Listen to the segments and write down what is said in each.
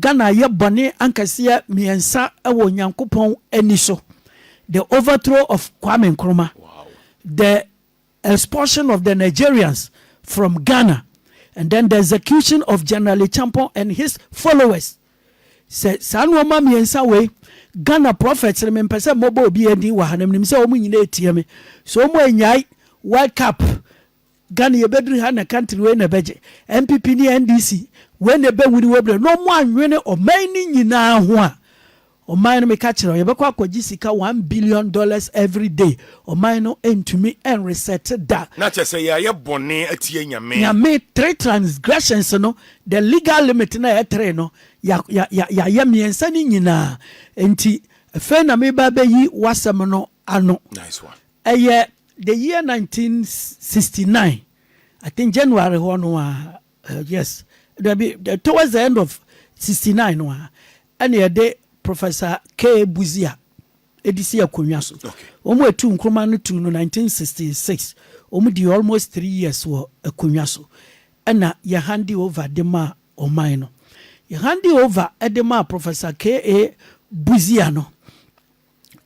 Ghana ayɛ bɔne ankɛseɛ mmiɛnsa wɔ Onyankopɔn ani so, the overthrow of Kwame Nkrumah, the expulsion of the Nigerians from Ghana, and then the execution of General Acheampong and his followers. Sɛ saa nnoɔma mmiɛnsa wei, Ghana prophets no mempɛ sɛ mobɔ obiara din wɔ ha no, menim sɛ wɔn nyinaa retie me, sɛ wɔn anyae World Cup Ghana yɛbɛduru ha na country wei na ɛbɛgye. NPP ne NDC wei na ɛbɛwini wɔ berɛ na wɔn anwene ɔman no nyinaa ho a, ɔman no meka kyerɛ yɛbɛkɔ akɔgye sika one billion dollars every day, ɔman no ntumi nresɛte da. Na kyerɛ sɛ yɛayɛ bɔne atia Nyame. Nyame, three transgressions no, the legal limit no a ɛyɛ three no, ya, ya, ya, yɛayɛ mmiɛnsa no nyinaa. Enti, afei na mereba abɛyi w'asɛm no ano. Nice one. Ɛyɛ the year nineteen sixty nine I think January hɔ no a uh, yes dabi towards the end of sixty nine no a ɛna yɛde Professor K Buzia ɛdi si akonnwa so wɔn etu nkruma no tu no nineteen sixty six wɔn di almost three years wɔ akonnwa so ɛna yɛ handi over de ma ɔman no yɛ handi over ɛde ma Professor K A Buzia no.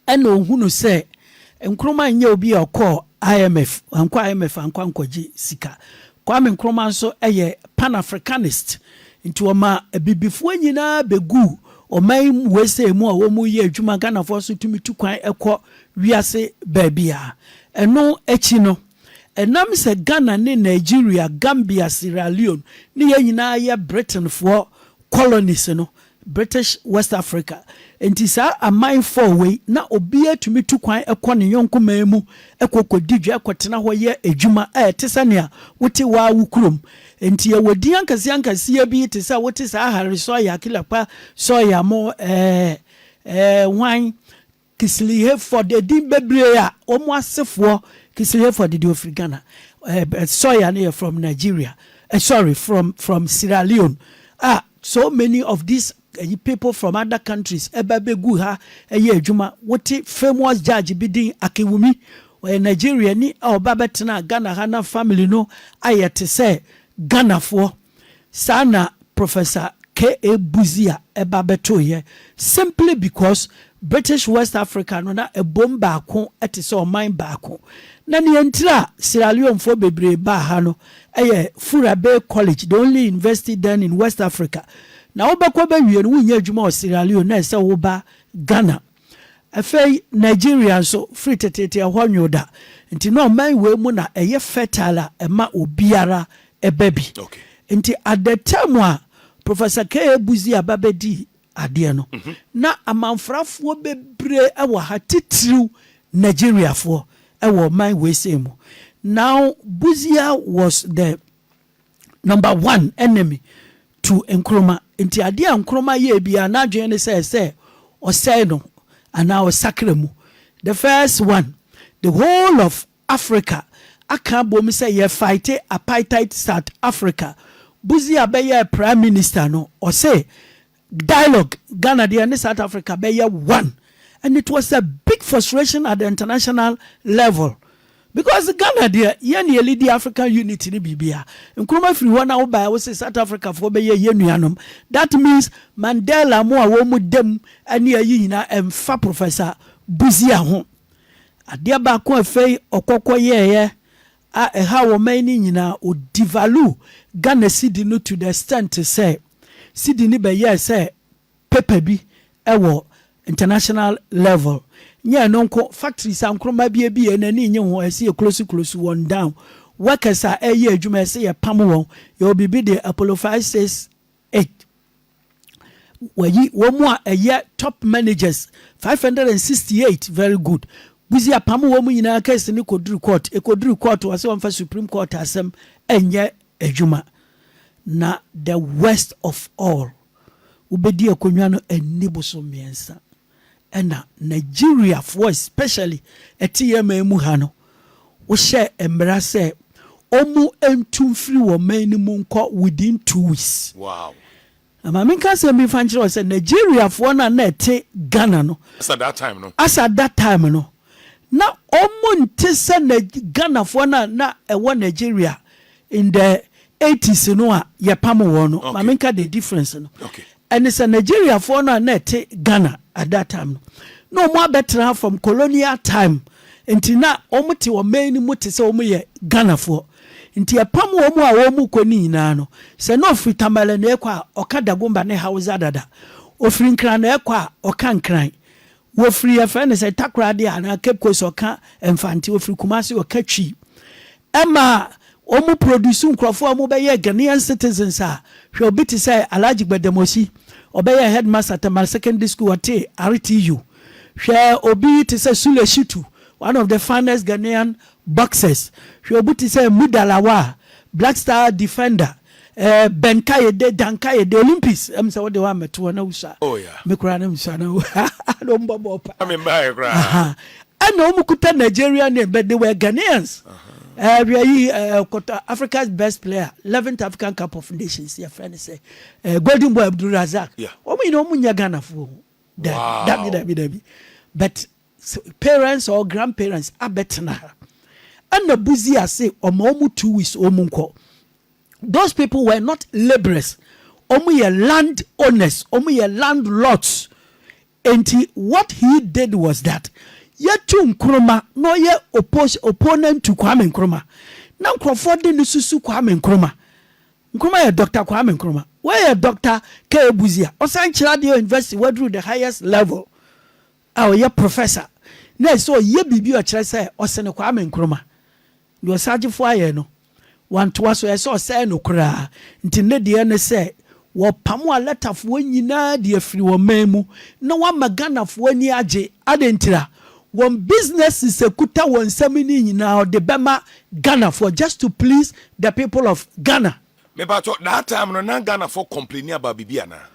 ɛna ohu no sɛ Nkrumah nyɛ obi a ɔkɔɔ IMF, wankɔ IMF ankɔ ankɔgye sika. Kwame Nkrumah nso yɛ Pan Africanist, nti ɔma abibifoɔ nyinaa bɛguu ɔman USA mu a wɔyɛ adwuma, Ghanafoɔ nso tumi tu kwan kɔ wiase baabiara. Ɛno akyi no, ɛnam sɛ Ghana ne Nigeria, Gambia, Sierra Leone ne yɛn nyinaa yɛ Britainfoɔ colonies no, British West Africa. Enti saa aman four wei, na obiara tumi tu kwan kɔ ne yɔnko man mu kɔ kɔdi dwa, kɔtena hɔ yɛ adwuma, a ɛte sɛ nea wote wo ara wo kurom. Enti yɛwɔ din ankaseankaseɛ bi te sɛ wote saa Harry Sawyer, Killer Pa Sawyer mo, ɛɛ, ɛɛ, hwan, Kisli-Hayford, edin bebree a wɔn asefoɔ, Kisli-Hayford deɛ ɔfiri Ghana, Sawyer no yɛ from Nigeria, sorry, from from Sierra Leone, a so many of these ayi people from other countries ɛba bɛgu ha ɛyɛ adwuma. Wote famous judge bi din, Akinwumi, ɔyɛ Nigeriani a ɔba bɛtenaa Ghana ha na family no ayɛ te sɛ Ghanafoɔ. Saa na Professor K. A. Busia ba bɛtoeɛ, simply because British West Africa no na ɛbom baako te sɛ ɔman baako. Na nea ntira a Sierra Leonefoɔ bebree baa ha no yɛ Fura Bay College, the only university then in West Africa. Na wobɛkɔ bɛwie no, wonyɛ adwuma wɔ Sierra Leone na ɛsɛ sɛ woba Ghana. Afei Nigeria nso, firi teteete ɛhɔ nwoo da. Nti na ɔman wei mu na ɛyɛ fertile a ɛma obiara ɛba bi. Okay. Nti at the time a Professor K.A. Buzi aba bɛdii adeɛ no, mhm. na amanfrafoɔ bebree ɛwɔ ha, titiriw Nigeriafoɔ ɛwɔ ɔman wei sei mu. Now Buzia was the Number one, enemy, to Nkrumah. Nti adeɛ a Nkrumah yɛɛ biara n'adwene ne sɛ ɛsɛ ɔsɛe no anaa ɔsakra mu. The first one, the whole of Africa aka abom sɛ yɛ fight apartheid South Africa. Busia bɛyɛɛ prime minister no, ɔse Dialogue Ghana deɛ ɛne South Africa bɛyɛ one and it was a big frustration at the international level because Ghana deɛ yɛn na yɛlidi African unity ne biribia. Nkrumah firi hɔ na wobaɛ wose South Africa foɔ bɛyɛ yɛn nuanom that means Mandela mo a wɔn dam ne ayi nyinaa ɛmfa Professor Busia ho. Adeɛ baako a afei ɔkɔkɔ yɛɛyɛ a ɛhaw ɔman yi no nyinaa, wɔ devalue Ghana cedi no to the extent sɛ cedi no bɛyɛɛ sɛ paper bi wɔ international level. Nyɛ ɛno nko, factories a nkruma bi abie na ani nnye ho a ɛsɛ yɛ close close wɔn down, workers a ɛreyɛ adwuma ɛsɛ yɛpam wɔn, yɛwɔ biribi de apolophysis Eight, Wayi wɔn a ɛyɛ top managers five hundred and sixty eight very good Buzi apamo wɔn nyinaa case no kɔduru court ɛkɔduru court wɔse wɔmfa supreme court asɛm ɛnyɛ adwuma na the worst of all wobɛdi akonnwa no ɛnni boso mmiɛnsa. na Nigeriafoɔ especially ɛte yɛn man mu ha no, wohyɛɛ mmara sɛ wɔntu mfiri wɔn man no mu nkɔ within two weeks. Wow. Ma menka asɛm bi mfa nkyerɛ wo sɛ Nigeriafoɔ no a na ɛte Ghana no, as at that time no, as at that time no, na wɔnte sɛ Ghanafoɔ no a na ɛwɔ Nigeria In the eighties no a yɛpam wɔn no, ma me nka the difference no, ɛne sɛ Nigeriafoɔ no a na ɛte Ghana at that time no, na wɔn abɛtra from colonial time, nti na wɔn te ɔman no mu te sɛ wɔn yɛ Ghanafoɔ, nti ɛpam wɔn a wɔn kɔ no nyinaa no, sɛ na ɔfiri Tamale na ɛkɔ a, ɔka Dagomba ne Hausa dada, ɔfiri Nkran na ɛkɔ a, ɔka Nkran, Wɔfiri yɛfrɛ no sɛ Takoradi anaa Cape Coast wɔka Mfante, wɔfiri Kumasi wɔka Twi. Ɛma wɔn produce nkorɔfoɔ a wɔbɛyɛɛ Ghanaian citizens a, hwɛ obi te sɛ Alhaji Gbademosi, ɔbɛyɛɛ headmaster Tamale Secondary School, ɔtee RTU. Hwɛ obi te sɛ Sule Shitu, one of the finest Ghanaian boxers. Hwɛ obi te sɛ Muda Lawal, Black Star defender. Eh Ben Kayede, Dan Kayede, Olympics, ɛm sɛ wode woammɛto hɔ na wusua. Oh yeah. Me koraa na mesua na na ɔmo bɔ bɔɔl paa. Me mbaeɛ koraa. Aha. Ɛna ɔmo kuta Nigerian name but they were Ghanaians. Eh hwɛ yi eh kɔtɔ Africa's best player, 11th African Cup of Nations yɛfrɛ no sɛ eh Golden Boy Abdul Razak. Yeah. Ɔmo nyinaa ɔmo nyɛ Ghanafoɔ. Dabi, dabi, Wow. dabi, dabi. But parents or grand parents abɛtena ha ɛna buzi ase ɔma ɔmu two weeks ɔmu nkɔ those people were not labourers ɔmu yɛ land owners ɔmu yɛ landlords nti what he did was that yɛtu nkroma na ɔyɛ oppose opponent to Kwame Nkrumah na nkurɔfoɔ de ne susu Kwame Nkrumah Nkrumah yɛ Dr. Kwame Nkrumah wɔyɛ Dr. K. Buzi a ɔsan kyerɛ adeɛ university waduru the highest level a ɔyɛ professor na ɛsɛ sɛ ɔyɛ biribi a ɔkyerɛ sɛ ɔsene Kwame Nkrumah. Deɛ Osagyefo ayɛ no, wantoa so, ɛyɛ sɛ ɔsɛe no koraa. Nti nnɛ deɛ ne sɛ wɔpamo Alatafoɔ nyinaa de afiri wɔn man mu na wɔama Ghanafoɔ ani agye. Adɛn ntira? Wɔn businesses a ɛkuta wɔn nsam no nyinaa wɔde bɛma Ghanafoɔ just to please the people of Ghana. Mepakyɛw, that time no na Ghanafoɔ complaini about biribi anaa?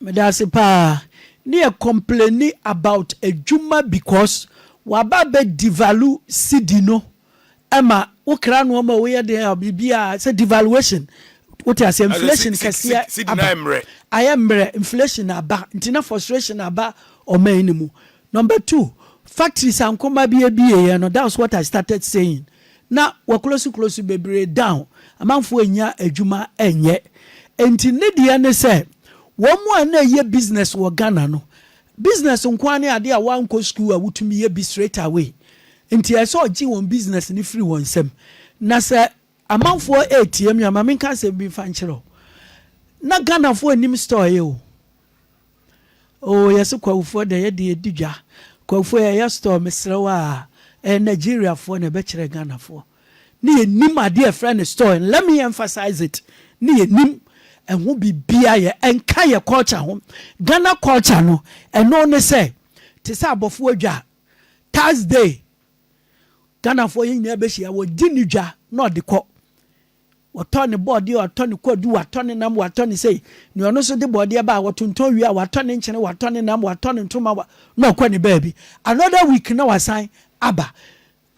Medase paa ne yɛ complaini about adwuma because waba abɛ devalue cedi no ɛma wo kra noɔma a woyɛ dɛn a biribiaa sɛ devaluation wote aseɛ inflation kɛseɛ aba ayɛ mmerɛ inflation aba nti na frustration aba ɔman no mu Number two, factories a nkrɔma bi abie yɛ no, that's what I started saying, na wɔ close close bebree down, amanfoɔ nnya adwuma nyɛ. Nti ne deɛ ne sɛ, wɔn a na ɛyɛ business wɔ Ghana no, business nko ara ne adeɛ a wɔankɔ school a wotumi yɛ bi straight away. Nti ɛsɛ sɛ ɔgye wɔn business no firi wɔn nsam. Na sɛ amanfoɔ ɛretie me a, ma menka asɛm bi mfa nkyerɛ wo, na Ghanafoɔ nnim store yɛ o. Oh yɛse Kwahufoɔ da yɛde adi dwa Kwahufoɔ yɛyɛ store mesrɛ wo aa ɛyɛ Nigeriafoɔ na ɛbɛkyerɛ Ghanafoɔ ne yɛnim adeɛ yɛfrɛ no store and let me emphasize it ne yɛnim ɛho biribiaa yɛ ɛnka yɛ culture ho Ghana culture no ɛno ne sɛ te sɛ abɔfoɔ dwa Thursday Ghanafoɔ yɛn nyinaa bɛhyia wɔgye ne dwa na ɔde kɔ Wɔtɔ ne bɔɔdeɛ, wɔatɔ ne kwadu, wɔatɔ ne nam, wɔatɔ ne sei. Nea ɔno nso de bɔɔdeɛ ba a, wɔtontɔn wie a, wɔatɔ ne nkyene, wɔatɔ ne nam, wɔatɔ ne ntoma, wa, na ɔkɔ ne baabi. Another week na wasan aba.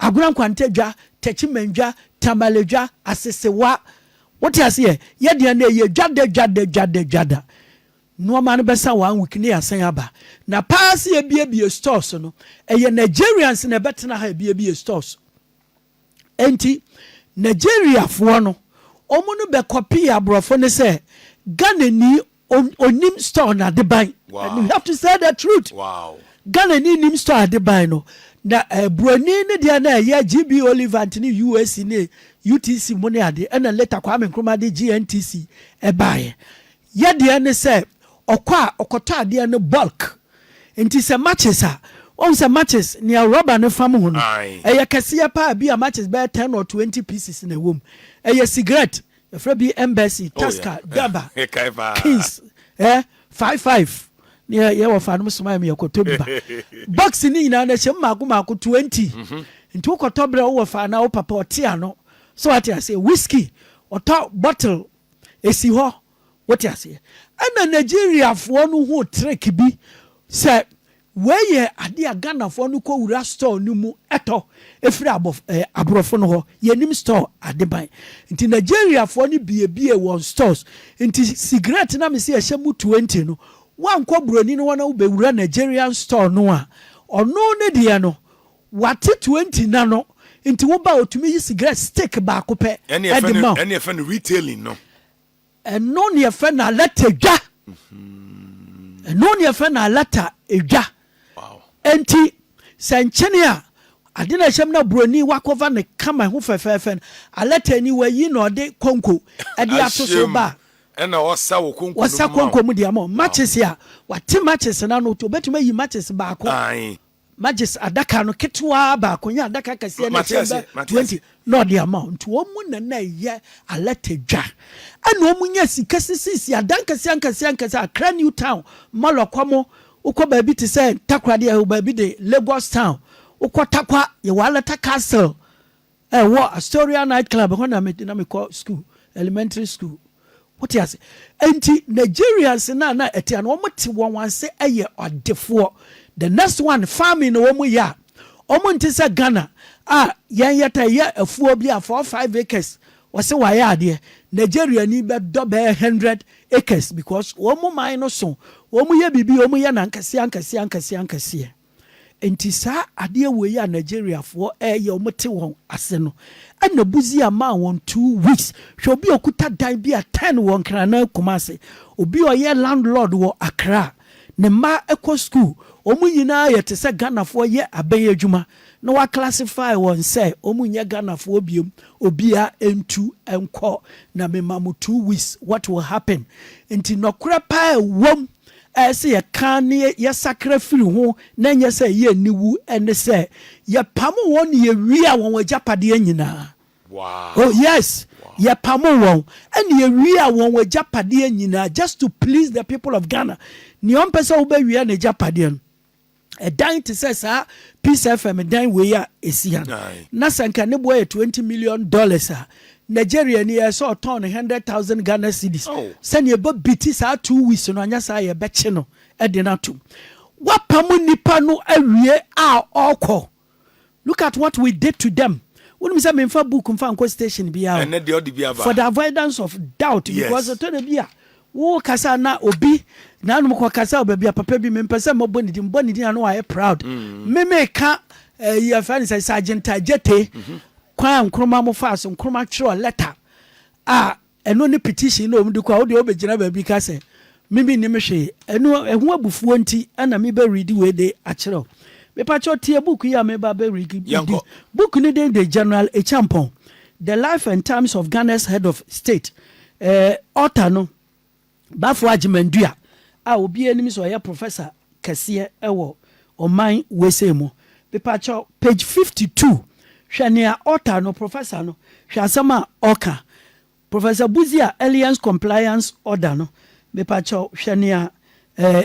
Agorɔ Nkwanta dwa, Techiman dwa, Tamale dwa, Asesewa. Wote aseɛ? Yɛ deɛ no ɛyɛ dwa da, dwa da, dwa da, dwa da. Nnoɔma no bɛsa one week na yɛasan aba. Na paa sɛ yɛbiebie stores no, ɛyɛ Nigerians na ɛbɛtena ha ɛbiebie stores. Enti Nigeriafoɔ no, wɔn no bɛ kɔpii aborɔfo no sɛ Ghanani onim store no adeban. And you have to say the truth. Wow. Ghanani nim store adeban no. Na eh, Buroni ne deɛ na ɛyɛ GB Olivant ne UAC ne UTC mu ne ade. Ɛna later Kwame Nkrumah de GNTC ɛbaeɛ. Yadeɛ ne sɛ ɔkɔ a ɔkɔtɔ adeɛ no bulk nti sɛ matches a wahu sɛ matches nea rubber no fam ho no ɛyɛ kɛseɛ paa bi a matches bɛyɛ ten or twenty pieces na ɛwɔ mu ɛyɛ cigarette yɛfrɛ bi embassy taska daba kings eh five five ne yɛ yɛ wɔ fa nom soma yɛ kɔtɔ bi ba box ne nyinaa na ɛhyɛ mu mako mako twenty nti wokɔtɔ berɛ wowɔ fa na wo papa ɔte ano so wate aseɛ whisky ɔtɔ bottle Esi hɔ, wote aseɛ. Ɛna Nigeriafoɔ no hu trick bi sɛ wei yɛ adeɛ a Ghanafoɔ no kɔ wura store no mu tɔ firi abɔf ɛɛ aborɔfo no hɔ. Yɛnim store adeban. Nti Nigeriafoɔ no biebiee wɔn stores. Nti sigaret no a mese ɛhyɛ mu twenty no, woankɔ buroni no hɔ na wobɛwura Nigerian store no a, ɔno ne deɛ no, Wate twenty na no nti wo ba otumi yi cigarette stick baako pɛ de ma wo. Ɛne yɛfɛ no retailing no. Ɛno ne yɛfɛ no alata dwa. Ɛno ne yɛfɛ no alata dwa. Nti sɛ nkyene a ade na ɛhyɛm na buroni wakɔva ne kama ho fɛfɛɛfɛ no alata ni wayi na ɔde konko ɛde ato so ba ɛna ɔsa wɔ konko ɔsa konko mu deɛ mo matches a wate matches na no obetumi ayi matches baako Majes adaka no ketewaa baako nye adaka kɛseɛ no a ɛkyɛn bɛ twenty na ɔde ama wo. Nti wɔn na na ɛyɛ alɛte dwa. Ɛna wɔn nya sika sisiisi adan kɛseɛ ankɛseɛ ankɛseɛ Accra New Town mɔlɔ kɔ mo wokɔ baabi te sɛ Takoradi ɛɛ baabi de Lagos Town wokɔ Takwa yɛwɔ Alata Castle Ɛwɔ Astoria Night Club hɔ na na mekɔ school, elementary school. Wote ase? Enti Nigerians no a na ɛte a na wɔte wɔn ase yɛ ɔdefoɔ. The next one, farming na wɔyɛ a, wɔnte sɛ Ghana a yɛn yɛtaa yɛ afuo bi a four five acres wɔse wɔayɛ adeɛ. Nigeriani bɛdɔ bɛyɛ hundred acres because wɔn man no so, wɔyɛ biribi, wɔyɛ no ankeseɛ ankeseɛ ankeseɛ ankeseɛ. Enti saa adeɛ wei a Nigeriafoɔ ɛɛyɛ ɔmo te wɔn ase no ɛna Busia maa wɔn two weeks. Hwɛ obi a okuta dan bi a ten wɔ Nkranan Kumasi, obi a ɔyɛ landlord wɔ Accra, ne mma ɛkɔ school, ɔmo nyinaa yɛ te sɛ Ghanafoɔ yɛ abɛn adwuma na wa classify wɔn sɛ ɔmo nyɛ Ghanafoɔ biom, obiara ɛntu ɛnkɔ na me ma mo two weeks what will happen? Enti nɔkorɛ paa ɛwɔ mu. ɛyɛ sɛ yɛka na yɛsakra firi ho na ɛnyɛ sɛ ɛyɛ aniwu ne sɛ yɛpamoo wɔn na yɛwiaa wɔn agyapadeɛ nyinaa. Oh, yes! Yɛpamoo wɔn na yɛwiaa wɔn agyapadeɛ nyinaa just to please the people of Ghana. Nea ɔmpɛ sɛ wobɛwia n'agyapadeɛ no, ɛdan te sɛ saa peace fm dan wei a ɛsi ha na sɛ nka ne boɔ yɛ 20 million dollars a nigeria ni yɛ sɛ ɔtɔn no 100000 ghana cedis oh. sɛnea ɛbɔ biti saa two weeks no anyɛ saa yɛbɛkye no de no atom woapam nnipa no awie a ɔkɔ Look at what we did to them wonim sɛ memfa book mfa nkɔ station bia o ɛnɛ deɛ ɔde bi aba for the avoidance of doubt because yes ɛtɔ da bi a wo kasa na obi na anom kɔ kasa ɔbɛbi a papa bi mempɛ sɛ mmɔbɔ ne din mbɔ ne din ano ayɛ proud me meka ɛyi eh, afɛ ne sɛ Sergeant Ajete kwan a Nkrumah mo faa so Nkrumah twerɛ lɛta a Ɛno ne petition no a wɔde kɔ a wo deɛ wobɛgyina baabi ka sɛ me me nnim hwee. Ɛno ɛho abufuo nti na me bɛ readi wei de akyerɛ wo. Mepakyɛw tie book yi a me ba bɛ readi. Book no din de General Acheampong, The Life and Times of Ghana's Head of State. Ɛɛ author no Bafo Agyemang-Duah a obiara nim sɛ ɔyɛ professor kɛseɛ wɔ ɔman usa mu. Mepakyɛw, page fifty two, hwɛ nea author no, professor no, hwɛ asɛm a ɔka. Professor Budziah Alliance Compliance Order no, mepakyɛw, hwɛ nea eh,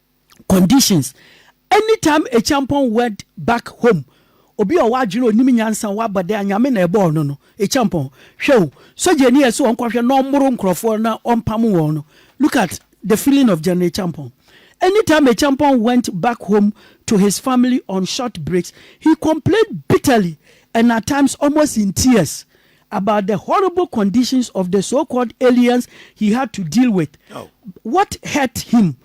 conditions anytime Acheampong went back home obi a ɔwɔ adwene onim nyansa ɔwɔ abɔde a nyame na ɛbɔɔ no no Acheampong hwɛ o sogyani a ɛsɛ ɔnkɔhwɛ na ɔmmoro nkurɔfoɔ na ɔmpamo wɔn no look at the feeling of General Acheampong anytime Acheampong went back home to his family on short breaks he complained bitterly and at times almost in tears about the horrible conditions of the so-called aliens he had to deal with what hurt him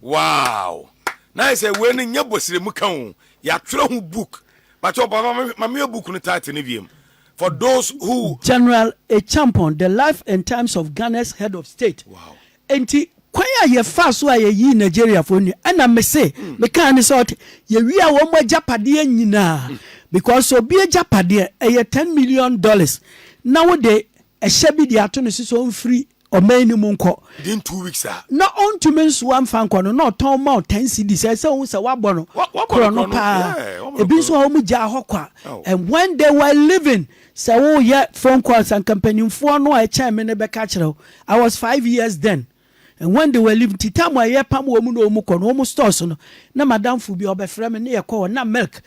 Wow na ayɛ sɛ wei no nyɛ bɔsiremu ka o yɛatwerɛ ho book bakyɛ papa ma meyɛ book no title no wiem for those who. General Acheampong, The Life and Times of Ghana's Head of State. Wow. Nti kwan a yɛfaa so a yɛyii Nigeriafoɔ nua ɛna mese mekaa ne sɛ ɔte yɛwia wɔn agyapadeɛ nyinaa because obi agyapadeɛ ɛyɛ ten million dollars na wode ɛhyɛ bi de ato ne so sɛ ɔmfiri ɔman no mu nkɔ. Within two weeks a. Na ɔntumi nsoa mfa nkɔ no, na ɔtɔn ma wo ten cedis. Ɛsɛ sɛ wohu sɛ woabɔ no korɔno paa. Ebi nso wɔ hɔ a, wɔgyaa hɔ kwa. And when they were leaving, sɛ woreyɛ phone calls a, anka mpanimfoɔ no a ɛkyɛn me no bɛka akyerɛ wo. I was five years then. And when they were leaving, nti time a yɛpam wɔn na wɔkɔ no, wɔn stores no, na m'adamfo bi a, ɔbɛfrɛ me, na yɛkɔ hɔ, na milk,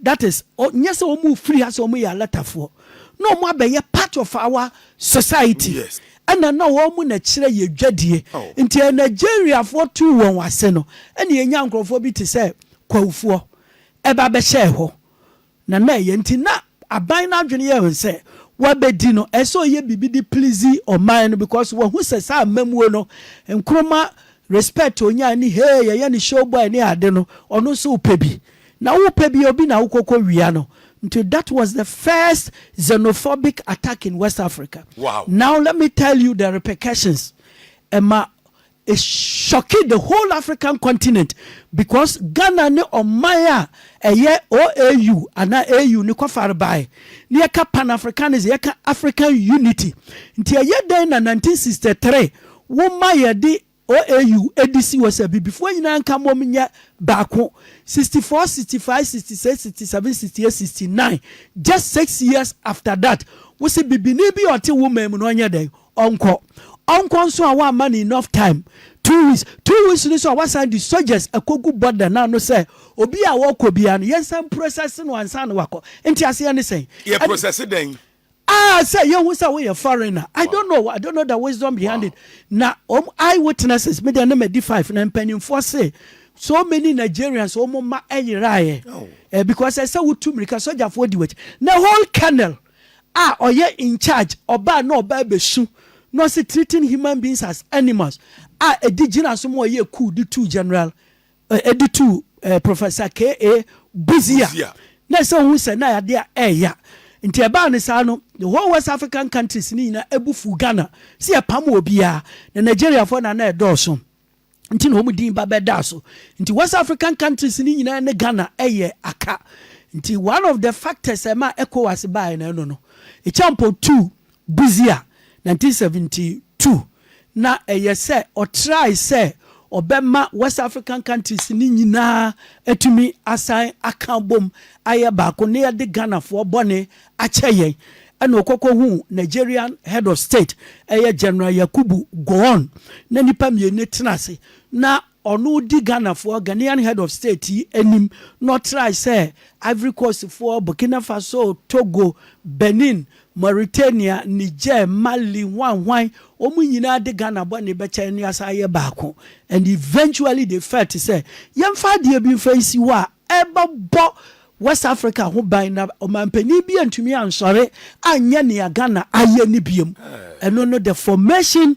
that is nyɛ sɛ wɔn firi ha sɛ wɔn yɛ alatafoɔ na wɔn abɛyɛ part of our society yes. ɛna na wɔn na kyerɛ yɛ dwadie oh. nti yɛ nigeriafoɔ tu wɔn ase no ɛna yɛnya nkurɔfoɔ bi te sɛ kwawufoɔ ɛba bɛhyɛɛ hɔ na na ɛyɛ nti na aban no adwene yɛ wɔn sɛ wabɛdi no ɛsɛ ɔyɛ biribi de please ɔman no because wɔhu sɛ saa mmamuo no nkroma respect onyaa ne hee yɛyɛ ne show boy ne ade no ɔno nso wopɛ bi Na wo pɛ bi obi na wo kɔ kɔ wia no nti that was the first xenophobic attack in west Africa wow. now let me tell you the repercussions ɛma e shocking the whole African continent because Ghana ne ɔman a ɛyɛ OAU ana AU ne kɔfare bae ne yɛka pan Africanism yɛka African unity nti ɛyɛ dɛn na 1963 wo ma yɛde OAU de si hɔ sɛ Abibifoɔ nyinaa nka mmom nyɛ baako, 64, 65, 66, 67, 68, 69, just six years after that, wo se Bibini bi a ɔte wo man mu no ɔnyɛ dɛn? Ɔnkɔ. Ɔnkɔ nso a woamma no enough time, two weeks. Two weeks no nso a woasan de soldiers akɔgu border no ano sɛ obiara a ɔrekɔ biara no yɛnsan process no ansa na wakɔ. Nteaseɛ ne sɛn? Yɛ process dɛn? Ah sɛ yɛhu sɛ woyɛ foreigner I don't know I don't know the wisdom behind it na wɔn eye witnesses me deɛ na madi five na mpanimfoɔ se so many Nigerians wɔn mma ɛyeraeɛ eh, because ɛsɛ wotu mmirika sogyafoɔ di wɔakyi na whole colonel a ɔyɛ in charge ɔbaa na ɔbaa bɛsu na ɔse treating human beings as animals a ɛdi gyina so ma ɔyɛ coup de tu general Ɛde tuu Professor K. A. Busia na ɛsɛ ohu sɛ na yadeɛ ɛɛya. Nti ɛbaa no saa no, the whole West African countries no nyinaa ɛbu fuu Ghana sɛ yɛpam wɔ biaa. Na Nigeriafoɔ na na ɛdɔɔso nti na wɔn din ba bɛdaa so. Nti West African countries no nyinaa ne Ghana ɛyɛ aka. Nti one of the factors ɛmaa Ecowas baaɛ no ɛno no. Ichampɔ tuu Busia, nineteen seventy two, na ɛyɛ sɛ ɔtrae sɛ ɔbɛma West African countries no nyinaa atumi asan aka abom ayɛ baako na yɛde Ghanafoɔ bɔne akyɛ yɛn, ɛna ɔkɔkɔhuu Nigerian Head of State, ɛyɛ General Yakubu Gowon, na nnipa mmienu tena ase na Ɔno di Ghanafoɔ, Ghanaian Head of State, yi anim na ɔtrae sɛ Ivory Coastfoɔ, Burkina Faso, Togo, Benin, Mauritania, Niger, Mali, hwan hwan, wɔn nyinaa de Ghana bɔne bɛkyɛ ne asan ayɛ baako and eventually they felt sɛ yɛmfa adeɛ bi mfa nsi hɔ a ɛbɛbɔ West Africa ho ban na ɔmanpanin bi antumi ansɔre anyɛ nea Ghana ayɛ no biom. Ɛno no the formation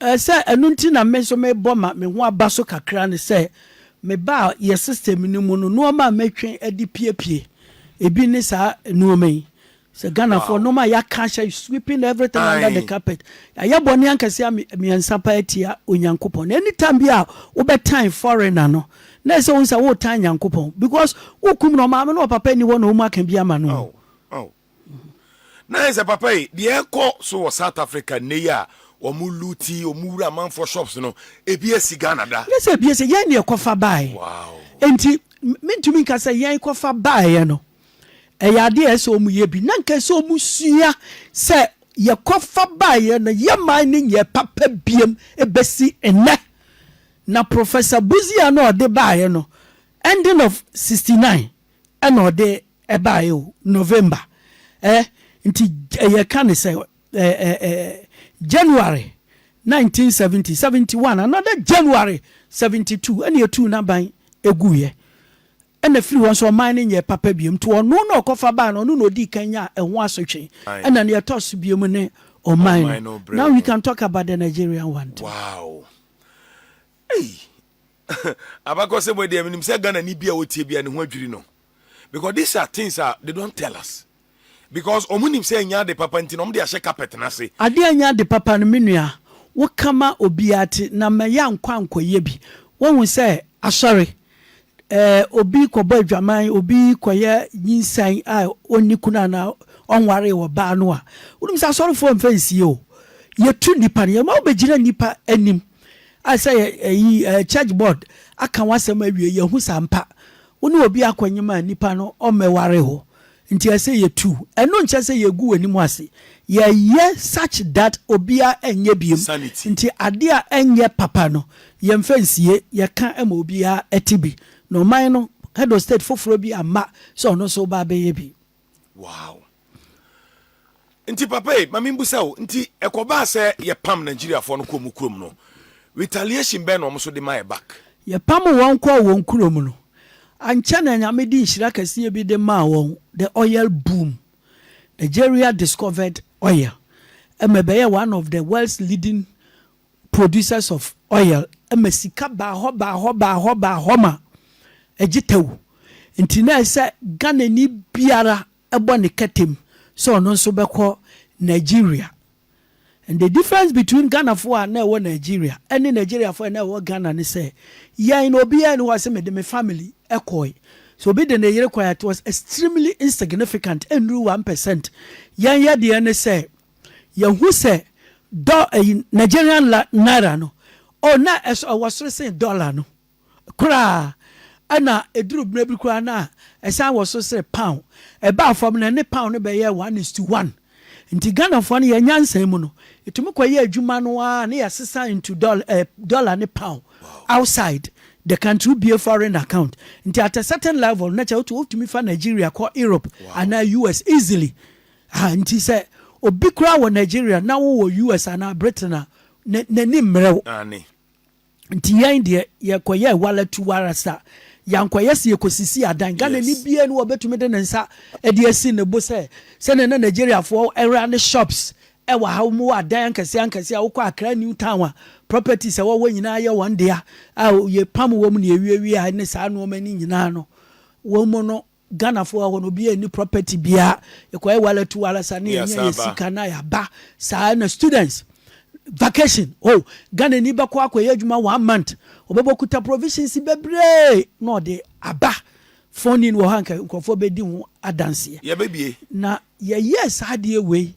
Ɛɛ sɛ ɛno nti na me nso mebɔ ma me ho aba so kakra ne sɛ mebaa yɛ system no mu no nnoɔma a mɛtwe de piepie ebi ne saa nnoɔma yi sɛ Ghanafoɔ nnoɔma a yɛaka ahyɛ sweeping everything under the carpet yɛayɛ bɔne ankɛseɛ mmiɛnsa paa atia Onyankopɔn na anytime bi a wobɛtan foreigner no na ɛsɛ wohu sɛ woretan Nyankopɔn because wokum no ɔmaame no ɔpapa nni hɔ na ɔmu aka bi ama no na ayɛ sɛ papa yi deɛ ɛkɔ so wɔ south africa nnɛ yi a wɔn luti wɔn wura amanfoɔ shops no ebi asi ghana da ne sɛ ebi asi yɛn deɛ kɔfa baeɛ wow nti mentumi nka sɛ yɛn kɔfa baeɛ no ɛyɛ adeɛ a ɛsɛ wɔn yɛ bi na nka ɛsɛ wɔn sua sɛ yɛkɔfa baeɛ no yɛ man no nyɛ papa biem ebesi nnɛ na professor buzia no ɔde baeɛ no ending of sixty nine Ɛna ɔde ɛbaeɛ o, November eh, nti yɛka no sɛ eh eh eh January nineteen seventy, seventy one, another January seventy two ɛna yɛtuu n'aban guiɛ. Ɛna firi hɔ nso ɔman no nyɛɛ papa biom, nti ɔno na ɔkɔfa baa no, ɔno na ɔdii kan nyaa ɛho asotwe. Ɛna nea ɛtɔ so biom ne ɔman no. Now we can talk about the Nigerian one too. Wow! Ei! Abakɔsɛm wei deɛ menim sɛ Ghana ni bia ɔtie bia ne ho adwiri no because these are things a they don't tell us because ɔmo nim sɛ ɛnyɛ ade papa nti na ɔmo de ahyɛ carpet no ase. Adeɛ a ɛnyɛ ade papa no me nua wo ka ma obiara ti na ma yɛ ankɔ ankɔ yɛ bi wahu sɛ asɔre eh obi kɔ bɔ adwaman obi kɔ yɛ nyinsɛn a ɔnni kunu anaa ɔnwaree ɔbaa no a wonim sɛ asɔrefoɔ mfa nsie o yɛ tu nnipa no yɛ ma wo bɛ gyina nnipa anim Ayɛ sɛ yɛ ɛyi ɛɛ church board aka w'asɛm awie yɛ hu sa mpa wo ne obi akɔ nyem a nipa no ɔmmɛ ware hɔ nti ɛsɛ yɛ tu ɛno nkyɛ sɛ yɛ gu w'anim ase yɛ yɛ such that obia ɛnyɛ biem nti ade a ɛnyɛ papa no yɛ mfa nsie yɛ ka ma obia ɛte bi na ɔman no Edo state foforɔ bi amma sɛ ɔno nso ba bɛyɛ bi. Wow. Nti papa e, ma mimbusa o, nti ɛkɔbaa sɛ yɛpam Nigeriafoɔ no kɔɔ mu kurom no, retaliation bɛn na wɔn nso de maɛ back? Yɛpam wɔn kɔɔ wɔn kurom no, ankyɛ na Nyame de nhyira kɛseɛ bi de maa wɔn, the oil boom. Nigeria discovered oil, ɛma ɛbɛyɛɛ one of the world's leading producers of oil ma sika baa hɔ baa hɔ baa hɔ baa hɔ ma ɛgye tɛw nti na ɛsɛ Ghanani biara bɔ ne kɛtem sɛ ɔno nso bɛkɔ Nigeria and the difference between Ghanafoɔ a na ɛwɔ Nigeria ne Nigeriafoɔ a na ɛwɔ Ghana ne sɛ yɛn no obiara ni hɔ a sɛ mede me family kɔe sɛ obi de ne yere kɔe a it was extremely insignificant ɛnnuru one percent yɛn yɛdeɛ ne sɛ Yɛhu sɛ dɔ ɛyi Nigerian la naira no oh na ɛso ɛwɔ soro sen dollar no koraa ɛna ɛduru mmerɛ bi koraa na ɛsan wɔ soro sere pound ɛbaa fam no ɛne pound no bɛyɛ one is to one nti Ghanafoɔ no yɛn nyansa mu no ɛtumi kɔyɛ adwuma no ara ne yɛsesa into dollar, eh, dollar ne pound outside the country wobie foreign account nti at a certain level na kyɛ wotumi fa Nigeria kɔ Europe anaa US easily Aha nti sɛ obi koraa wɔ Nigeria na wowɔ US anaa Britain a, n'ani mmerɛ wo. Aane. Nti yɛn deɛ yɛkɔyɛɛ wala tu wala sa. Yɛankɔyɛ sɛ yɛkɔsisii adan. Ghanani biara ni hɔ a ɔbɛtumi de ne nsa de asi ne bo sɛ, sɛdeɛ na Nigeriafoɔ rane shops wɔ ha, wɔwɔ adan ankɛseɛ ankɛseɛ a wokɔ Accra New Town a, properties a wɔwɔ nyinaa yɛ wɔn dea a yɛpam wɔn na yɛwiawia ne saa nnoɔma no nyinaa no, wɔn mu no Ghana foɔ wɔ hɔ no obiaa nni property biaa yɛkɔyɛ wala tu wala saa na yɛnya yɛ sika na yɛaba saa na students vacation oh Ghana ni bɛkɔ akɔyɛ adwuma one month ɔbɛbɔ kuta provisions bebree na ɔde aba phone in wɔ hɔ anka nkurɔfoɔ bɛdi ho adanseɛ yɛbɛbie na yɛyɛ saa adeɛ wei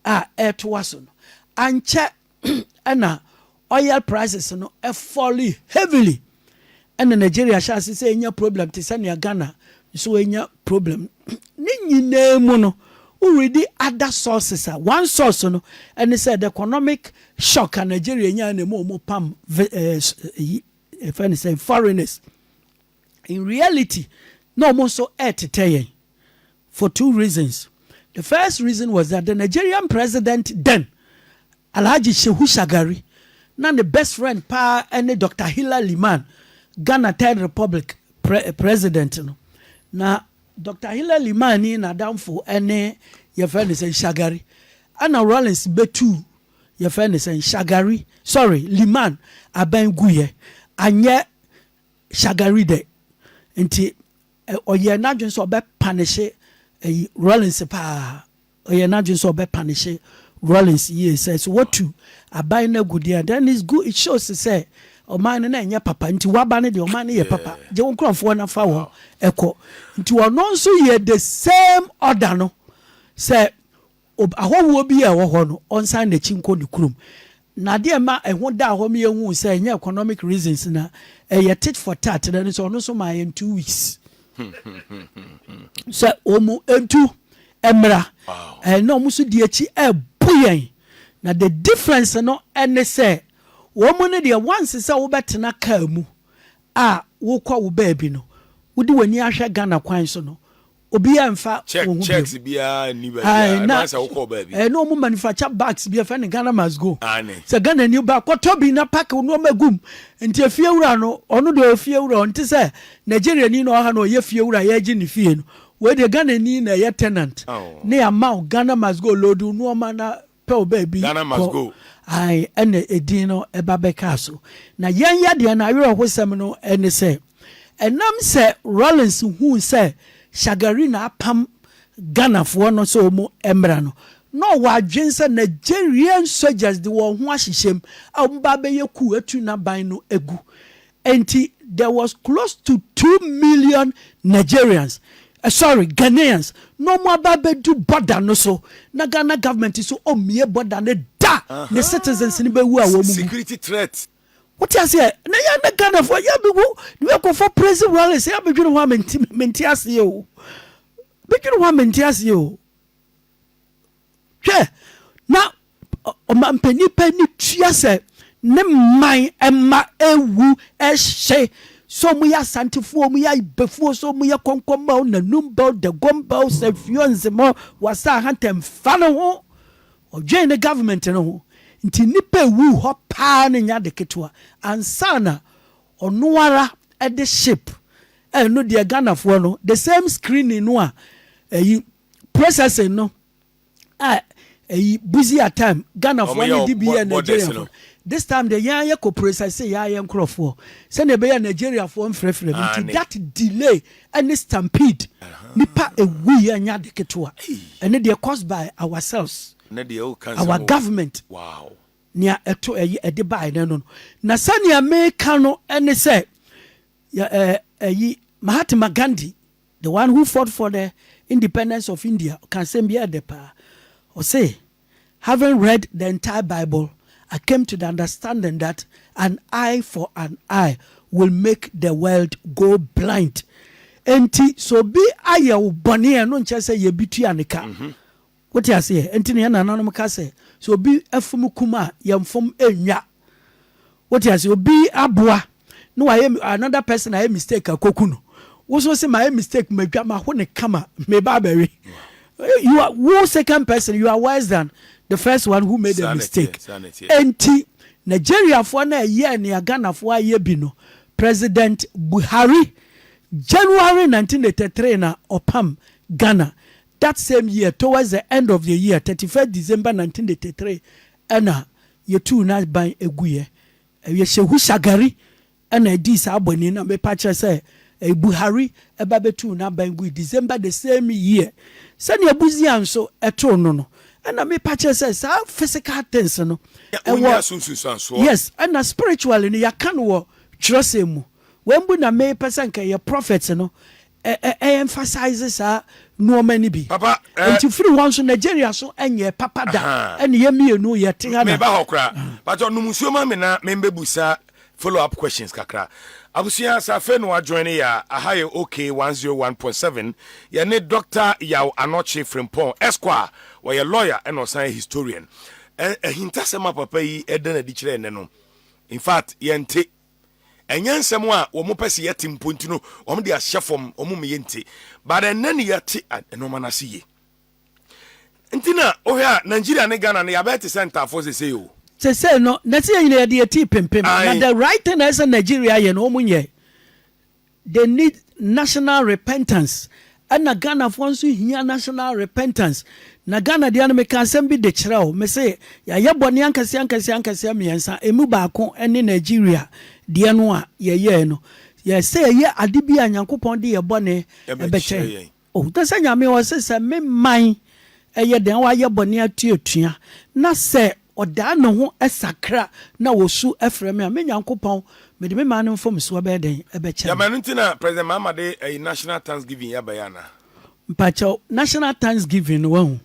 a ɛtoa so no ankyɛ na oil prices no fɔli heavily na Nigeria hyɛ ase sɛ enya problem te sɛ nea Ghana nso enya problem. Ne nyinaa mu no, wo readi other sources a, one source no ne sɛ the economic shock a Nigeria nyae na ɛma wɔpam vi ɛɛ yi ɛfɛ ne sɛ foreigners. in reality na ɔmo nso ɛɛtetɛ yɛn for two reasons the first reason was that the Nigerian president then Alhaji Shehu Shagari na ne best friend paa ɛne Doctor Hilla Liman Ghana third republic pre president no na Doctor Hilla Liman ni n'adamfo ɛne yɛfrɛ ne sɛ Shagari ɛna Rawlings bɛtuu yɛfrɛ ne sɛ Shagari sorry Liman abɛn guyɛ anyɛ Shagari dɛ nti ɔyɛɛ n'adwen sɛ ɔbɛ panehye ɛyi Rawlings paa ɔyɛɛ n'adwen sɛ ɔbɛ panehye Rawlings yie sɛ sɛ wɔtu aban no agu deɛ a then it's good it shows sɛ ɔman no na ɛnyɛ papa nti waba no deɛ ɔman no yɛ papa gye wo nkorɔfoɔ na fa wɔn ɛkɔ nti ɔno nso yɛɛ the same order no sɛ Ob, Ahɔhoɔ bi a ɛwɔ hɔ no, ɔnsan n'akyi nkɔ ne kurom. Na adeɛ a ɛma ɛho daa hɔ ma yɛhuu sɛ ɛnyɛ economic reasons na ɛyɛ tit for tat no ne sɛ ɔno nso maa yɛn two weeks sɛ wɔn ntu mmra. Ɛɛ na wɔn nso di akyi ɛɛbu yɛn. Na the difference no ɛne sɛ wɔn no deɛ once sɛ wobɛtena kaa mu a wokɔ wo baabi no, wode w'ani ahwɛ Ghana kwan so no, obiara mfa wɔn ho bio ae na ɛɛ na wɔn manufacture bags bi ɛfɛ ne Ghana must go sɛ Ghana ni ba kɔtɔ bi na pack nneɛma gum nti efie wura no ɔno deɛ ofie wura ɔno te sɛ Nigeria ni na ɔha na ɔyɛ fie wura yɛregye ne fie no wei deɛ Ghana ni na ɛyɛ tenant ne ama Ghana must go load nneɛma na pɛ wo baabi Ghana must kɔ go. ae ɛna ɛdin no ɛba bɛkaa so na yɛn yadeɛ no awerɛhosɛm no ɛne sɛ ɛnam sɛ Rawlings huu sɛ Shagari na apam Ghanafoɔ no sɛ ɔmu ɛmmra no na ɔwɔ adwen sɛ Nigerian soldiers de wɔn ho ahyehyɛm a ɔmu ba abɛyɛ coup atu naban no agu Enti there was close to two million Nigerians, sorry, Ghanaians na wɔn aba abɛdu border no so na Ghana government nso ɔmmue border no da, ne citizens no bɛwu a wɔn mu. Wote aseɛ? Na yɛn na Ghanafoɔ yɛ bi wo ne akɔfɔ praise rallies yɛ abɛdwene hɔ a mente aseɛ o. Bɛdwene hɔ a mente aseɛ o. Hwɛ, na ɔmampanyin pɛ ne tua sɛ ne man mma ewu hye, sɛ wɔyɛ Asantefoɔ, wɔyɛ Ayibefoɔ, sɛ wɔyɛ Kɔnkɔnba o, Nanumba o, Dagomba o, Sɛnfio, Nzema o, Wasa Ahanta, mfa ne ho. Ɔdwen ne government no ho. Nti nnipa ewu hɔ paa no nyɛ ade ketewa. Ansa na ɔno ara de ship, ɛno deɛ Ghanafoɔ no, the same screening no a ɛyi, processing no a ɛyi busier time Ghanafoɔ ne de bi yɛ Nigeriafoɔ this time deɛ yɛn ayɛ kɔ processing yɛn ayɛ nkorɔfoɔ sɛdeɛ ɛbɛyɛ Nigeriafoɔ mfrɛfrɛ no nti that delay ɛne stampede nipa ɛwu yɛ nya de ketewa ɛne deɛ caused by ourselves our government wow nea ɛto ɛyɛ ɛde bae no no na sɛnea meka no ɛne sɛ ɛyi Mahatma Gandhi The one who fought for the independence of India ɔka asɛm bi a ɛdɛ paa. Ɔse, Having read the entire Bible, I came to the understanding that an eye for an eye will make the world go blind. Enti sɛ obi ayɛ wo bɔne a ɛno nkyerɛ sɛ yɛ bi tua ne ka. Wote aseɛ? Enti na yɛn nananom ka sɛ, sɛ obi fom kum a, yɛmfom nnwa. Wote aseɛ? Obi aboa na wayɛ, another person ayɛ mistake akɔku no, wo nso wose mayɛ mistake, madwa, maho no kama, meba abɛwe. You are, wo second person, you are worse than the first one who made a mistake. Enti Nigeriafoɔ no a ɛyɛɛ nea Ghanafoɔ ayɛ bi no, President Buhari, January 1983 na ɔpam Ghana, That same year, towards the end of the year, thirty first December nineteen eighty three, ɛna yɛtuu n'aban guiɛ. Ɛyɛ Shehu Shagari ɛna ɛdii saa bɔne yi na mepa kyerɛ sɛ ɛyɛ Buhari ɛba bɛtuu n'aban gui December the same year. Sɛdeɛ Busia nso ɛtoo no no, ɛna mepa kyerɛ sɛ saa physical things no ɛwɔ, yes, ɛna spiritually no yɛaka no wɔ twerɛsɛm mu. Wei mpo na mepɛ sɛ nka ɛyɛ prophets no ɛ emphasize saa nnoɔma no bi. Papa eh. Nti firi hɔ nso Nigeria so ɛnyɛɛ papa da Ahaa. ɛne yɛ mmienu yɛ te ha na. Meba hɔ koraa. Pakyɛ nom nsuo ma me na me mbɛ busa follow up questions kakra. Abusua sɛ afei na wa join yɛ a, aha yɛ OK 101.7 yɛ ne Doctor Yaw Anɔkye Frimpong Esquire wɔyɛ lawyer ɛna ɔsan yɛ historian. Ɛ ahintasɛm a papa yi ɛda no adi kyerɛ ɛnɛ no in fact yɛnte ɛnyɛ nsɛm a wɔn pɛ sɛ yɛte mpo nti no wɔn de ahyɛ fam wɔn mu yɛ nti but ɛnɛ ne yɛte nneɛma no ase yie nti na wohwɛ a Nigeria ne Ghana no yɛabɛyɛ te sɛ ntafoɔ sese o. sese no na sɛ yɛn nyinaa yɛde yɛ tii pempem na the right thing na ɛsɛ Nigeria yɛ no wɔn nyɛ. They need national repentance ɛna Ghanafoɔ nso hia national repentance na Ghana deɛ no meka asɛm bi de kyerɛ wo mese yɛayɛ bɔne ankaseɛ ankaseɛ ankaseɛ mmiɛnsa ɛmu baako ne Nigeria deɛ no a yɛyɛɛ no yɛsɛ yɛyɛ ade bi a Nyankopɔn de yɛ bɔne ɛbɛkyɛ yɛn. Ɔhunuu sɛ Nyame ɔse sɛ me man yɛ dɛn wayɛ bɔne atuatua, na sɛ ɔdan ne ho sakra na ɔsu frɛ me a, me Nyankopɔn mede me man no mfomsoɔ bɛyɛ dɛn bɛkyɛ no. Gyama ɛno nti na President Mahama de ɛyi National Thanksgiving yi aba yi anaa? Mpakyɛw, National Thanksgiving no wahu,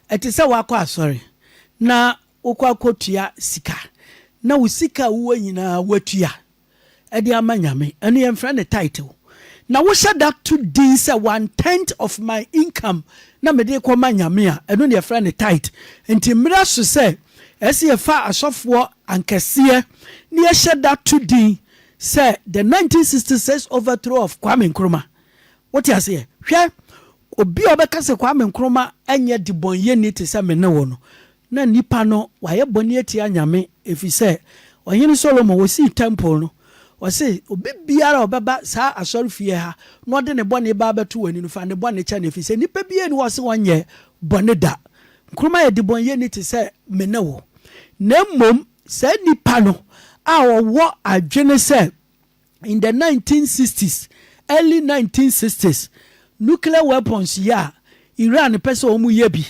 ɛte sɛ woakɔ asɔre na wokɔ akɔtua sika na wo sika a wowɔ nyinaa woatua. de ama Nyame, ɛno yɛmfrɛ no title, na wohyɛ da to din sɛ one tenth of my income na mede rekɔma Nyame a, ɛno na yɛfrɛ no tithe. Nti mmerɛ so sɛ ɛsɛ yɛfa asɔfoɔ ankɛseɛ na yɛhyɛ da to din sɛ the 1966 overthrow of Kwame Nkrumah. Wote aseɛ? Hwɛ, Obi a ɔbɛka sɛ Kwame Nkrumah nyɛ debɔneyɛni te sɛ me ne wo no, na nipa no wayɛ bɔne atia Nyame, efisɛ Ɔhene Solomon, osii tɛmpol no, ɔse, Obi biara a ɔbɛba saa asɔrefie ha na ɔde ne bɔne ba abɛto w'ani no, fa ne bɔne kyɛ no, efisɛ nipa biara nni hɔ a ɔse ɔnyɛɛ bɔne da. Nkrumah yɛ debɔneyɛni te sɛ me ne wo, na mmom saa nipa no a ɔwɔ adwene sɛ, in the nineteen sixty s, early nineteen sixty s, nuclear weapons yi a Iran pɛ sɛ wɔn yɛ bi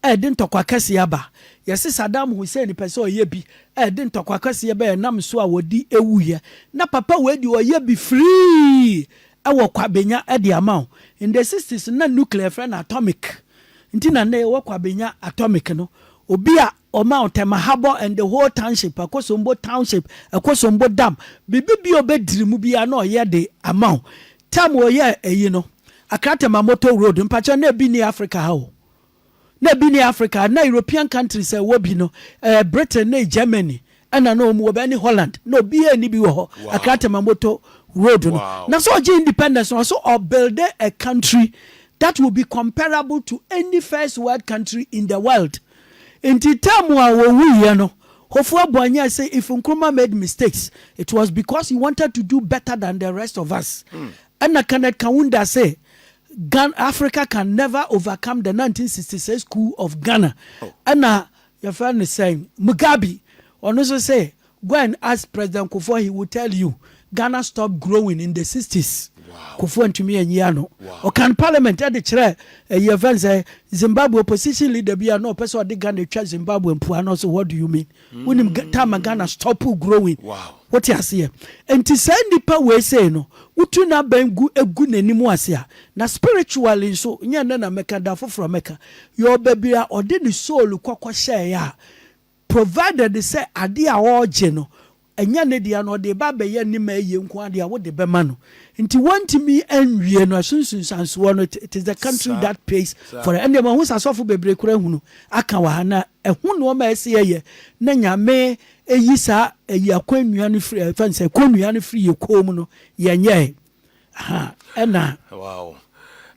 a ɛde ntɔkwa kɛseɛ aba. Yɛse Saddam Hussein pɛ sɛ ɔyɛ bi a ɛde ntɔkwa kɛseɛ ba ɛnam so a wɔde wuiɛ. Na papa wei deɛ ɔyɛ bi free ɛwɔ kwabenya ɛde ama wo. In the sixty s na nuclear yɛfrɛ no atomic nti na nnɛ yɛwɔ kwabenya atomic no. Obi a Omao, Tɛmahabɔ and the whole township, Akosombo township, Akosombo dam, biribi biaa ɔbɛdiri mu biaa na ɔyɛ de ama wo. Time ɔyɛɛ ɛyi no, Accra Tɛmamoto road, mpakyɛw na ɛbi nni Africa ha o. Na ɛbi nni Africa ha, na European countries a ɛwɔ bi no, ɛɛ Britain ne Germany ɛna na ɔmu wɔ bi ɛne Holland, na obiaa nni bi wɔ hɔ, Accra Tɛmamoto road no. Na sɛ ɔgye independence no, ɔse ɔ builde a country that will be comparable to any first world country in the world. Nti term a wɔwuiɛ no hɔfoɔ abɔ anyɛ sɛ if Nkrumah made mistakes it was because he wanted to do better than the rest of us ɛna Kenneth Kaunda se Ghana Africa can never overcome the 1966 coup of Ghana ɛna yɛfrɛ no sɛn Mugabe ɔno nso se Go and ask president Kufuor he will tell you Ghana stop growing in the sixties Kufuor ntumi anyi ano ɔka no parliament ɛde kyerɛ ɛyi ɛfɛn sɛ Zimbabwe opposition leader bi a na ɔpɛ sɛ ɔde Ghana twa Zimbabwe mpua no so what do you mean wonim time Ghana stop growing wote aseɛ nti saa nipa wei sei no wotu n'abɛn gu egu n'anim ase a na spiritually nso nyɛ ne na mɛka da foforɔ mɛka yɛ ɔbɛbi a ɔde ne soul kɔkɔ hyɛɛ a Provided sɛ adeɛ a ɔregye no ɛnyɛ ne dea no, ɔde reba abɛyɛ ne ma ayie nko ara deɛ a, wode bɛma no. Nti wɔntumi nwie no, ɛso nsunsuansoɔ no, it is the country Saa, that pays saa. for it. Ɛndeɛ mahu sɛ asɔfo bebree koraa ahunu aka wɔ ha, na ɛho nnoɔma a ɛsɛ yɛyɛ na Nyame ayi saa ayi akɔnnua no firi, ɛfɛn sɛ, kɔnnua no firi yɛ kɔn mu no, yɛnyɛɛ. ɛna. Wow.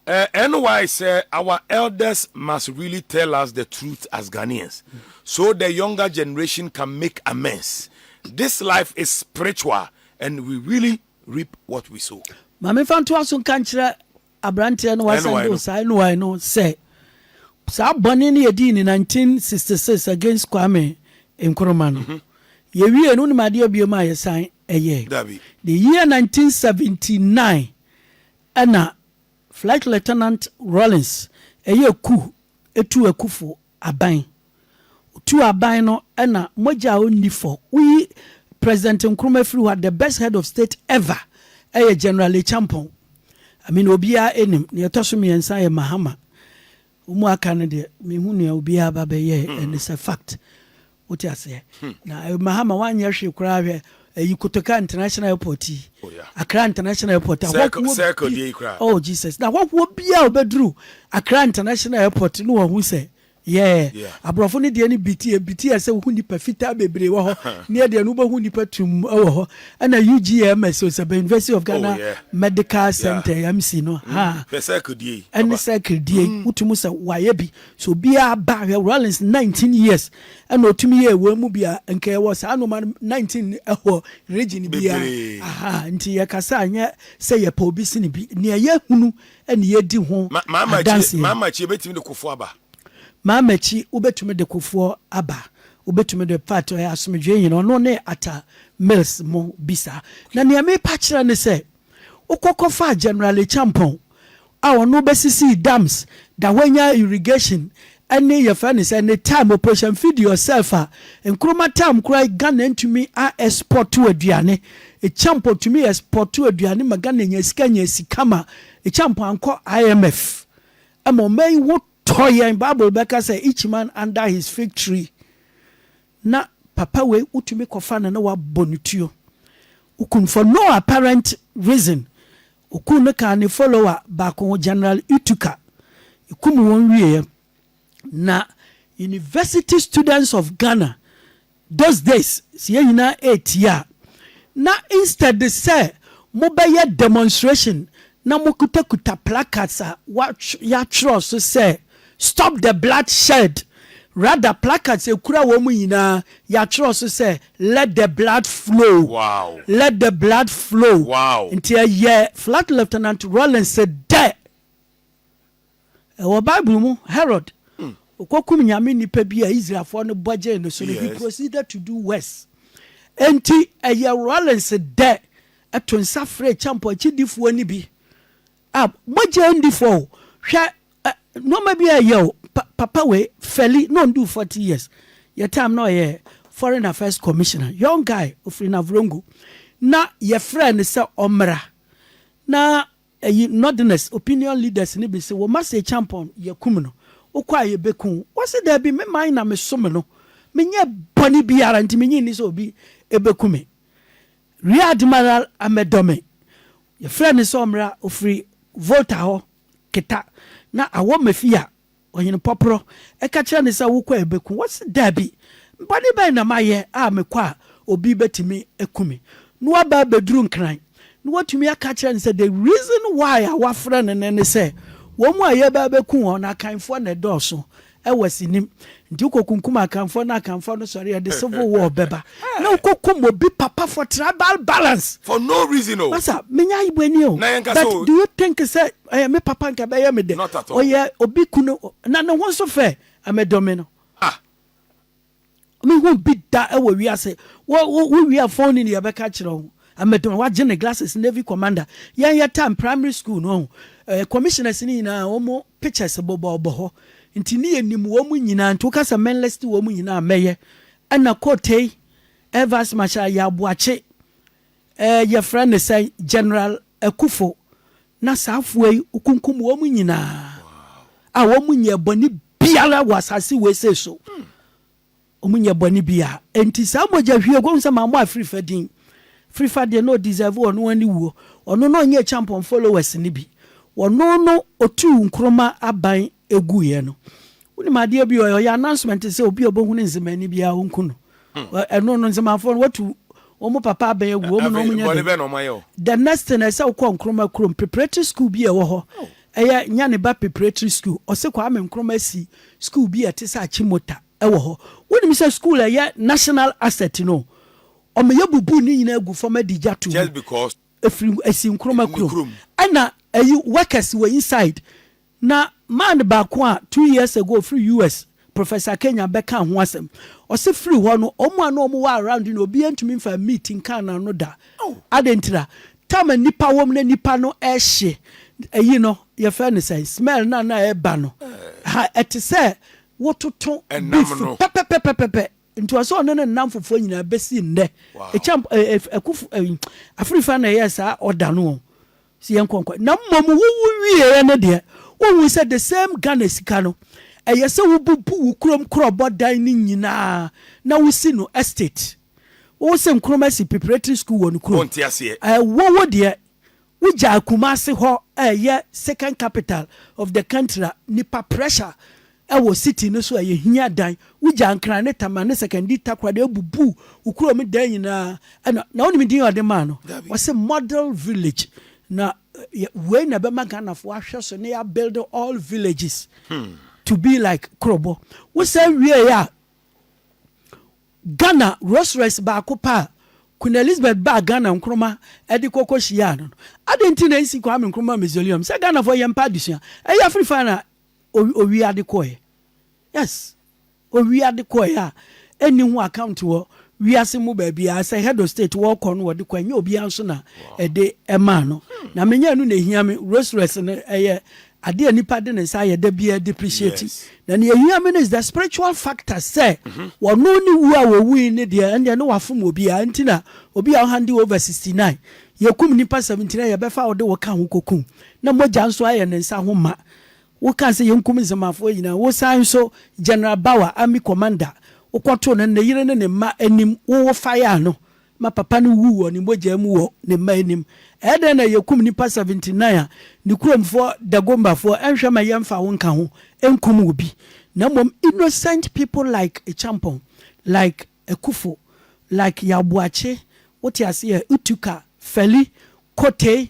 Uh, NY said our elders must really tell us the truth as Ghanaians so the younger generation can make amends. This life is spiritual and we really reap what we sow. Mami Fantua so nka nkyerɛ aberanteɛ no wasan do saa NY no sɛ saa bɔne no yɛdii ne 1966 against Kwame Nkrumah no. Mm-hmm. Yɛwiee no, wonim adeɛ biom a yɛsan yɛɛ? Dabi. The year 1979 ɛna Flight Lieutenant Rawlins yɛ ku tuu akufo aban. Ɔtuu aban no ɛna mogya a ɔnni fɔ. Woyi President Nkrumah firi hɔ a, the best head of state ever yɛ General Acheampong. I mean obiara nim. Nea ɛtɔ so mmiɛnsa yɛ Mahama. Wɔn a aka no deɛ menhu nea obiara ba bɛyɛɛ and it's a fact wote aseɛ na eh, Mahama wanyɛ hwee koraa hwɛ ɛyi Kotoka International Airport yi oh, yeah. Accra International Airport ahɔhoɔ circle deɛ yi koraa oh Jesus na ahɔhoɔ biara ɔbɛduru Accra International Airport no wɔhu sɛ yɛɛ yeah. aborɔfo no deɛ no biti biti ɛsɛ wohu nipa fitaa bebree wɔ hɔ ne ɛdeɛ no wobɛhu nipa tum wɔ hɔ Ɛna UGMS o sɛbɛ University of Ghana oh, yeah. Medical yeah. Center MC no mm. ha. Hwɛ circle die yi. Ɛne circle die yi mm. wotumi sɛ wayɛ bi so obiara ba hwɛ Rollins nineteen years ɛna otumi yɛ ewa mu bi a nka ɛwɔ saa noma nineteen ɛwɔ region biara aha nti yɛ kasa anyɛ sɛ yɛ pɛ obi sini bi nea yɛ hunu ɛna yɛ di ho adansi. Maamakyi ebetumi de kofoɔ aba. Maamakyi wobetumi de kofoɔ aba Wobɛtumi de part a ɔyɛ asomdwoeɛ nyina ɔno ne Atta Mills mo bi saa. Na nea merepa akyerɛ ne sɛ, wokɔ kɔfaa General Acheampong a ɔno bɛsisii dams, Dawhenya irrigation ne yɛfrɛ no sɛ ne time operation feed yourself a Nkrumah time koraa Ghana ntumi a export aduane. Acheampong tumi export aduane ma Ghana nya sika nya sika ma Acheampong ankɔ IMF ma ɔman yi ho Tɔ yɛn bible bɛka sɛ each man under his fig tree na papa wei wotumi kɔfa no na wabɔ no tuo wokum for no apparent reason okum no kaa ne follower baako ho general ituka ekum wɔn wieɛ na university students of Ghana Those days sɛ yɛn nyinaa retie a, na instead sɛ mobɛyɛ demonstration na mokutakuta placards a yɛatwerɛ so sɛ Stop the blood shed, rather placards ɛkura wɔn nyinaa yɛatwerɛ so sɛ Let the blood flow, wow. let the blood flow. Wow. Nti ɛyɛ Flag Lieutenant Rawlings dɛ. Wɔ Bible mu, Herod kɔkum nyame nipa bi a Israelfoɔ no bɔ gyee no so no, he proceeded to do worse. Enti ɛyɛ Rawlings dɛ ɛto nsa frɛ kyampɔ akyidifoɔ no bi a mogya ndi fɔ o, hwɛ ɛ nneɛma bi a ɛyɛ o, pa, papa wei, Feli, na ɔndu 40 years, yɛ time na ɔyɛ Foreign Affairs Commissioner, young guy, ofiri Navrongo, na yɛfrɛ no sɛ ɔmmra na Eyi Northerners opinion leaders no bi se wo mma se Champon yɛkum no wokɔ a yɛbɛku wo wɔse daabi me man na me som no menyɛɛ bɔne biara nti menye nni sɛ obi bɛku me Rear Admiral Amedome yɛfrɛɛ no sɛ ɔmmra ofiri Volta hɔ keta na awɔ Mefia Ɔhene Pɔporɔ ka kyerɛɛ no sɛ, Wokɔ a ɛbɛku wo? Ɔse, Daabi, bɔne bɛn na mayɛ a mekɔ a obi bɛtumi aku me? Na waba abɛduru Nkran, na watumi aka akyerɛ no sɛ, the reason why a wafrɛ no nnɛ ne sɛ, wɔn a yɛreba abɛku wɔn no, Akanfoɔ na ɛdɔɔso wɔ asinim, nti wokɔkunkum Akanfoɔ na Akanfoɔ no sɔre a, ɛde civil war bɛba, na wokɔkum obi papa for tribal balance. For no reason o. Masa, menya ayebɔni o, but do you think sɛ Ɔyɛ me papa nka ɛbɛyɛ me dɛ. Ɔyɛ obi kunu na ne ho nso fɛ. Medɔ me no. Mehu bi da wɔ wiase. Wo wia phone ni yɛbɛka akyerɛ wo. Medɔ me. Wagye ne glasses Navy commander. Yɛn yɛ time primary school no ɔho. Commissioners no nyinaa wɔn pictures bobɔbɔ hɔ. Nti ne yɛnim wɔn nyinaa. Nti woka sɛ menlist wɔn nyinaa a mɛyɛ. Ɛna Kotei, Air Vice Marshal Ayi Aboakye, Ɛɛ yɛfrɛ no sɛn? General Akufo na saa afoa yi wokunkum wɔn nyinaa a wɔn nyɛ bɔne biara wɔ asase wei sei so wɔn nyɛ bɔne biara enti saa mogya hwie wɔn sɛ maa mo a firifa din firifa deɛ na ɔdeserve ɔno wɔn ne wuo ɔno na ɔnyɛ champon followers no bi ɔno no ɔtuu nkroma aban eguiɛ no wonim adeɛ bi ɔyɛ ɔyɛ announcement sɛ obi a ɔbɛhu ne nzemani biara ɔnku no hmm. ɛno no nzemafoɔ no watu wɔn papa abɛn agu wɔn na wɔn nyɛ dɛ the next thing ɛsɛ wokɔ nkroma kurom preparatory school bi ɛwɔ hɔ oh. ɛyɛ nyaneba preparatory school ɔsɛ kwame nkroma si school bi ɛte sɛ akyimota ɛwɔ hɔ wonim sɛ school ɛyɛ national asset no ɔmo yɛ bubu ne nyinaa gu fam adi gya to mu efiri esi nkroma kurom ɛna ɛyi workers wɔ inside. Na man baako a two years ago ɔfiri US, Professor Kenyan bɛkaa ho asɛm. Ɔse firi hɔ no, wɔn a na wɔn wɔ around no obiara ntumi mfaa meat nkaa n'ano da. Adɛn ntira? Time a nnipa wɔ mu na nnipa no ɛhye ɛyi no, yɛfrɛ no sɛn? Smell no a na ɛba no, ha ɛte sɛ wototo beef pɛpɛpɛpɛpɛ. Nti ɔse ɔne ne nam fofoɔ nyinaa bɛsi nnɛ. Ɛkyɛn ɛkufu ɛyi, afirifa na ɛyɛɛ saa order no wɔn. Sɛ yɛn nkɔnkɔn. Na mmom wo wo wieɛ no deɛ, wonhu sɛ the same Ghana sika no, ɛyɛ sɛ wo bubu wo kurom korɔbɔ dan no nyinaa na wo si no estate. Wo wo se Nkrumah si preparatory school wɔ no kurom. Wonte aseɛ. Eh, wo wo deɛ, wo gyaa Kumasi hɔ a ɛyɛ second capital of the country a nipa pressure Ɛwɔ city no so a yɛ hia dan. Wo gya nkran ne tama ne sɛkɛndi takora de abubu wo kuro me dan nyinaa ɛna na wo nim din a ɔde maa no wɔse model village na yɛ wei na ɛbɛma Ghana fo ahwɛ so ne ya build all villages hmm. to be like kurobɔ wo sɛ wie a Ghana Rolls Royce baako pa a Queen Elizabeth baa Ghana nkroma ɛde kɔkɔ hyia no no adan ti na nsi Kwame Nkrumah mausoleum sɛ Ghana fo yɛ mpa adesua ɛyɛ afiri fa na Owi owii ade kɔɛ. Yes. Owii ade kɔɛ a ɛnni ho account wɔ wiase mu baabiara. Sɛ head of state wɔkɔ no wɔde kɔ ɛnyɛ obiara nso na ɛde ɛmaa no. Hmm. Na menyɛ ɛno na ehia me. Rolls Royce no ɛyɛ ade a nipa de ne nsa ayɛ da biara depreciate. Yes. Na nea ehia me no is the spiritual factor sɛ mhm. wɔno ne wu a wɔwui ne deɛ ɛndeɛ ne wafom obiara nti na obi a ɔhande over 69 yɛkum nipa 79 yɛbɛfa wode wo ka ho kɔkum na mogya nso ayɛ ne nsa ho ma. Wokaa sɛ yɛnkum Nzemafoɔ nyinaa. Wosan nso, General Bawa, army commander, wokɔtoo no ne yere ne ne mma anim, wowo fayaa no ma papa no wuu wɔ ne mogyaa mu wɔ ne mma anim. Ɛyɛ dɛn na yɛkum nnipa 79 a ne kuromfoɔ, Dagombafoɔ, ɛnhwɛ ma yɛmfa wo nka ho nkum obi, na mmom innocent people like Acheampong, like Akuffo, like Yaw Boakye, wote aseɛ, Utuka, Fally, Kotey,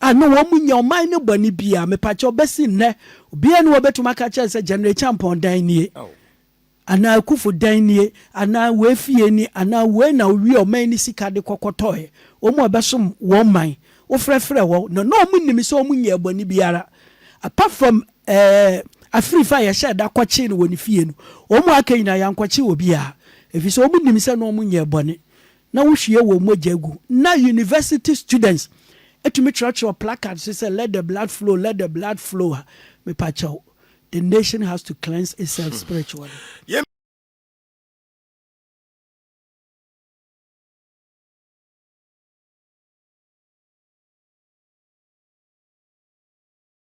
a na wɔn mu nyɛ ɔman no bɔne biara, mepakyɛw, bɛsi nnɛ, obiara nni hɔ a obetumi aka akyerɛ no sɛ General Acheampong dan nie, anaa Akuffo dan nie, anaa wei fie ni, anaa wei na owiee ɔman no sika de kɔkɔtɔe. Wɔn a wɔbɛsom wɔn man, wofrɛfrɛɛ wɔn, na na wɔnim sɛ wɔnyɛɛ bɔne biara, apart from ɛɛ afirifa a yɛhyɛɛ da kɔkyee no wɔ ne fie no, wɔn a aka nyinaa, yɛankɔkye obiara, efisɛ wɔnim sɛ na wɔnyɛɛ bɔne. na wohwie wɔn mogya gu. Ná university students tumi kyerɛwkyerɛw placards so sɛ, Let the blood flow, let the blood flow a, mepakyɛw, the nation has to cleanse itself spiritually.